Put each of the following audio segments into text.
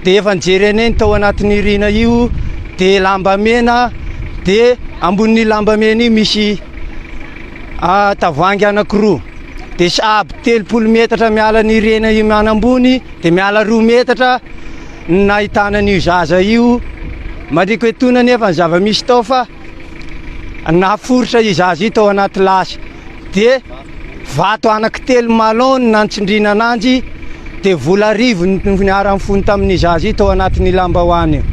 Dia efa nijery anay ny tao anatin'io riana io, dia lamba mena, dia ambonin'io lamba mena io misy tavoahangy anankiroa, dia sahabo telopolo metatra miala an'io riana io manambony, dia miala roa metatra ny nahitana an'io zaza io, mariko etoana anefa ny zava-misy tao fa naforitra io zaza io tao anaty lasy, dia. Vato anaky telo malon no nantsindriana ananjy dia vola arivo no niharan'ny fony tamin'ny zaza tao anatin'ny lambahoany io.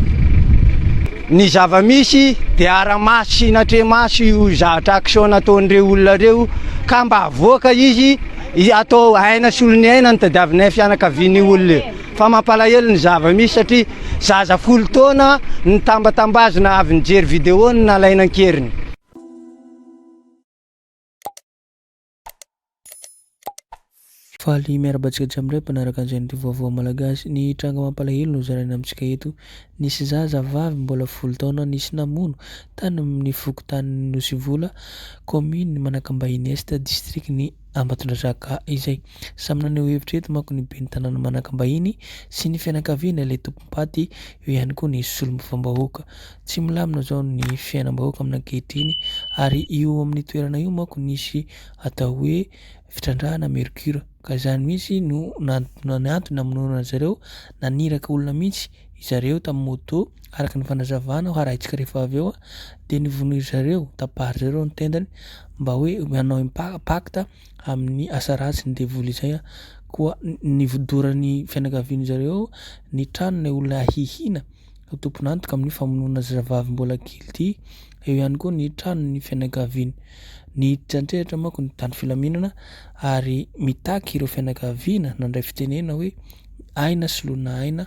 Ny zava-misy dia ara-maso sy natreha-maso io zatra action nataon'ireo olona ireo ka mba avoaka izy atao aina solon'ny aina no tadiavinay fianakavian'io olona io. Fa mampalahelo ny zava-misy satria zaza folo taona no tambatambazina avy nijery video no nalaina an-keriny. Faly miarahaba antsika jiamidray mpanaraka an'izay noty vaovao malagasy. Ny tranga mampalahelo no zaraina amintsika eto. Nisy zaza vavy mbola folo taona nisy namono tany amin'ny fokontanin'i Nosivola, kaominina Manakambahiny Est, distrikan'i Ambatondrazaka izay. Samy naneho hevitra eto manko ny ben'ny tanàna Manakambahiny sy ny fianakaviana ilay tompom-paty, eo ihany koa ny solombavambahoaka. Tsy milamina izao ny fiainam-bahoaka aminy ankehitriny ary io amin'ny toerana io manko nisy atao hoe fitrandrahana mercure ka izany mihitsy no nantontoana antony namonoana azy ireo, naniraka olona mihitsy izy ireo tamin'ny moto araka ny fanazavana harahintsika rehefa avy eo dia nivonoy zareo, tapahin-dry zareo ny tendany mba hoe hanao impact amin'ny asa ratsy ny devoly izay koa nivodoran'ny fianakavian'izareo ny tranon'ilay olona hihina. ho tompon'antoka amin'ny famonoana zazavavy mbola kely ity, eo ihany koa ny tranon'ny fianakaviany. Niditra an-tsehatra manko ny mpitandro filaminana ary mitaky ireo fianakaviana nandray fitenena hoe aina soloina aina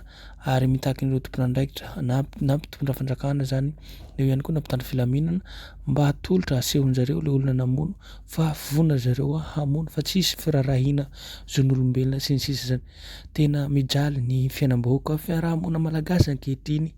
ary mitaky an'ireo tompon'andraikitra na na mpitondra fanjakana izany eo ihany koa na mpitandro filaminana mba hatolotra asehon-dry zareo ilay olona namono fa vonona ry zareo hamono fa tsy hisy firaharahiana zon'olombelona sy ny sisa izany. Tena mijaly ny fiainam-bahoaka fiaraha-monina malagasy ankehitriny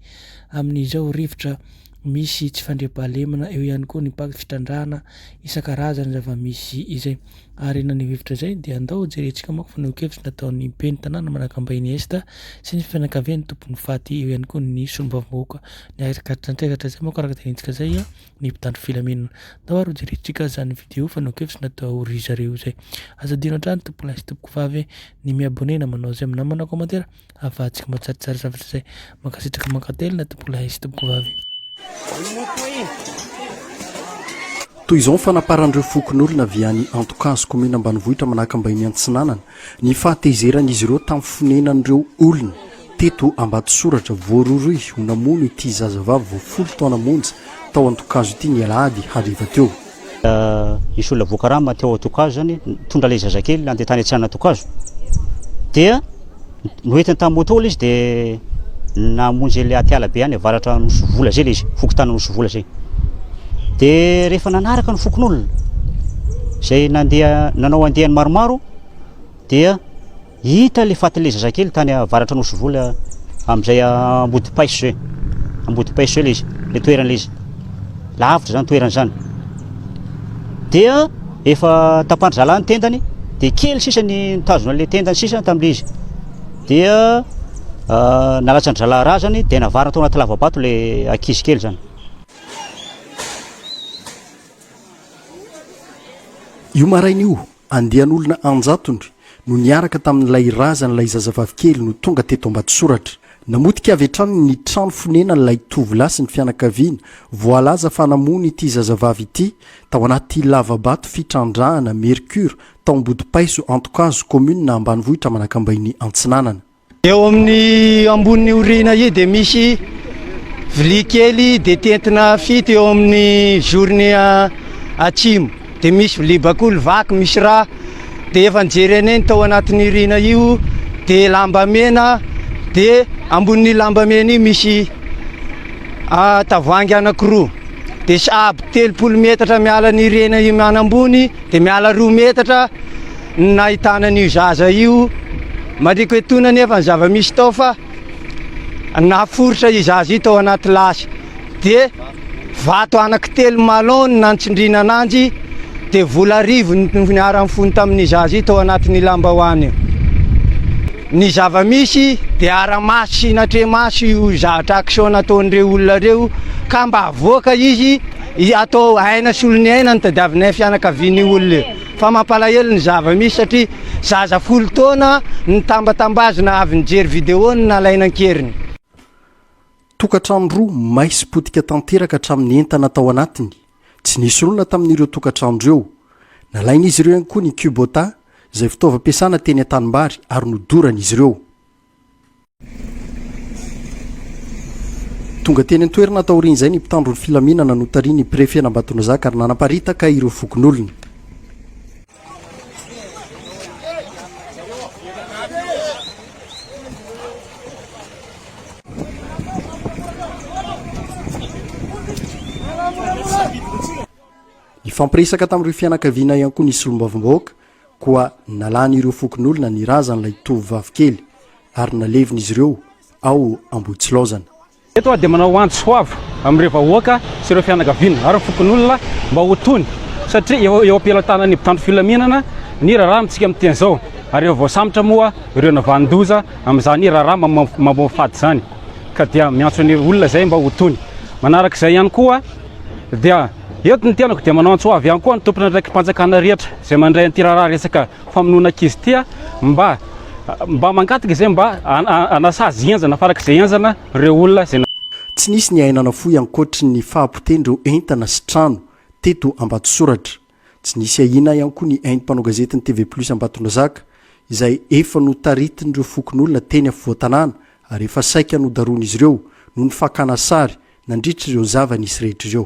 amin'izao rivotra misy tsy fandriampahalemana, eo ihany koa ny mpaky fitrandrahana isan-karazany zava-misy izay. Ary na ny rivotra izay dia andao jerentsika manko fanehoan-kevitra nataon'ny ben'ny tanàna Manakambahiny Est sy ny fianakavian'ny tompon'ny faty, eo ihany koa ny solombavambahoaka niaraka nantsehatra izay manko araka ny tenenintsika izay. ny mpitandro filaminana. Tao ary hojerentsika izany vidéo fanao-kevitra natao ry zareo izay. Aza adino hatrany tompo'lahy sy tompoko vavy ny mi-abonné na manao j'aime na manao commentaire ahafahantsika mba tsaratsara zavatra izay. Mankasitraka mankatelina tompo'lahy sy tompoko vavy. Toy izao ny fanaparan'ireo fokonolona avy any Antokazo, kaominina ambanivohitra Manakambahiny Antsinanana, Ny fahatezeran'izy ireo tamin'ny fonenan'ireo olona teto Ambatosoratra voarohirohy ho namono ity zazavavy vao folo taona monja tao an-tokazo ity ny alahady hariva teo. Nisy olona voakarama teo an-tokazo izany, nitondra ilay zazakely nandeha tany an-tseranantokazo. Dia noentiny tamin'ny moto ilay izy dia namonjy ilay atiala be any avaratra Nosovola izay ilay izy, fokontany Nosovola izay. Dia rehefa nanaraka ny fokonolona, izay nandeha, nanao andiany maromaro, dia hita ilay fatin'ilay zazakely tany avaratra nosy vola amin'izay ambodipaiso izay. Ambodipaiso izay ilay izy, ilay toerana ilay izy. Lavitra izany toerana izany. Dia efa tapandry zalahy ny tendany, dia kely sisa ny nitazona ilay tendany sisa tamin'ilay izy. Dia nalatsa-dry zalahy razany dia navarina tao anaty lava-bato ilay ankizy kely izany. Io maraina io, andian'olona an-jatony no niaraka tamin'ilay razan'ilay zazavavy kely no tonga teto Ambatosoratra. Namotika avy hatrany ny trano fonenan'ilay tovolahy sy ny fianakaviany voalaza fa namono ity zazavavy ity tao anaty lava-bato fitrandrahana mercure tao Ambodipaiso Antokazo, kaominina ambanivohitra Manakambahiny Antsinanana. Eo amin'ny amboniny aoriana io dia misy vilia kely detentina fito eo amin'ny zorony atsimo dia misy vilia bakoly vaky misy rà dia efa nijerene ny tao anatin'ny irina io dia lamba mena dia ambonin'ny lamba mena io misy tavoahangy anakiroa dia sahabo telopolo metatra miala ny irina io manambony Dia miala roa metatra no nahitana an'io zaza io. Mariko etoana anefa ny zava-misy tao fa naforitra io zaza io tao anaty lasy. Dia vato anankitelo malon no nantsindriana ananjy, dia vola arivo no niara-nifono tamin'io zaza io tao anatin'io lambahoany io. Ny zava-misy dia ara-maso sy natremaso io zatra action nataon'ireo olona ireo ka mba avoaka izy. Atao aina sy olon'ny aina ny tadiavinay fianakavian'io olona io. Fa mampalahelo ny zava-misy satria zaza folo taona nitambatambazina avy nijery video no nalaina an-keriny. Tokantrano roa may sy potika tanteraka hatramin'ny entana tao anatiny. Tsy nisy olona tamin'ireo tokantrano ireo. Nalain'izy ireo ihany koa ny Kubota, izay fitaovam-piasana teny an-tanimbary ary nodoran'izy ireo. Tonga teny an-toerana taorian'izay ny mpitandro ny filaminana notarian'ny prefen'Ambatonazaka ary nanaparitaka ireo fokonolona. Nifampiresaka tamin'ireo fianakaviana ihany koa ny solombavambahoaka koa nalan'ireo fokonolona ny razan'ilay tovovavy kely ary nalevin'izy ireo ao Ambohitsilaozana. Eto aho dia manao antso ho avo amin'ireo vahoaka sy ireo fianakaviana ary ny fokonolona mba ho tony satria efa eo am-pelatanan'ny mpitandro filaminana ny raharaha amintsika amin'ny teny izao ary efa voasambotra moa ireo navanon-doza amin'izany raharaha mamoafady izany ka dia miantso ny olona izay mba ho tony. Manaraka izay ihany koa. Dia eto ny tenako dia manao antsoavy ihany koa ny tompon'andraiki-panjakana rehetra izay mandray an'ity raharaha resaka famonoana ankizy ity aho mba mba mangataka izay mba hanasazy henjana farak'izay henjana ireo olona izay Tsy nisy ny aina nafoy ankoatry ny fahapotehan'ireo entana sy trano teto Ambatosoratra. Tsy nisy ahiana ihany koa ny ain'ny mpanao gazetin'ny TV Plus Ambatondrazaka, izay efa notaritin'ireo fokonolona teny afovoan-tanàna ary efa saika nodarohin'izy ireo noho ny fakàna sary nandritra ireo zava-nisy rehetra ireo.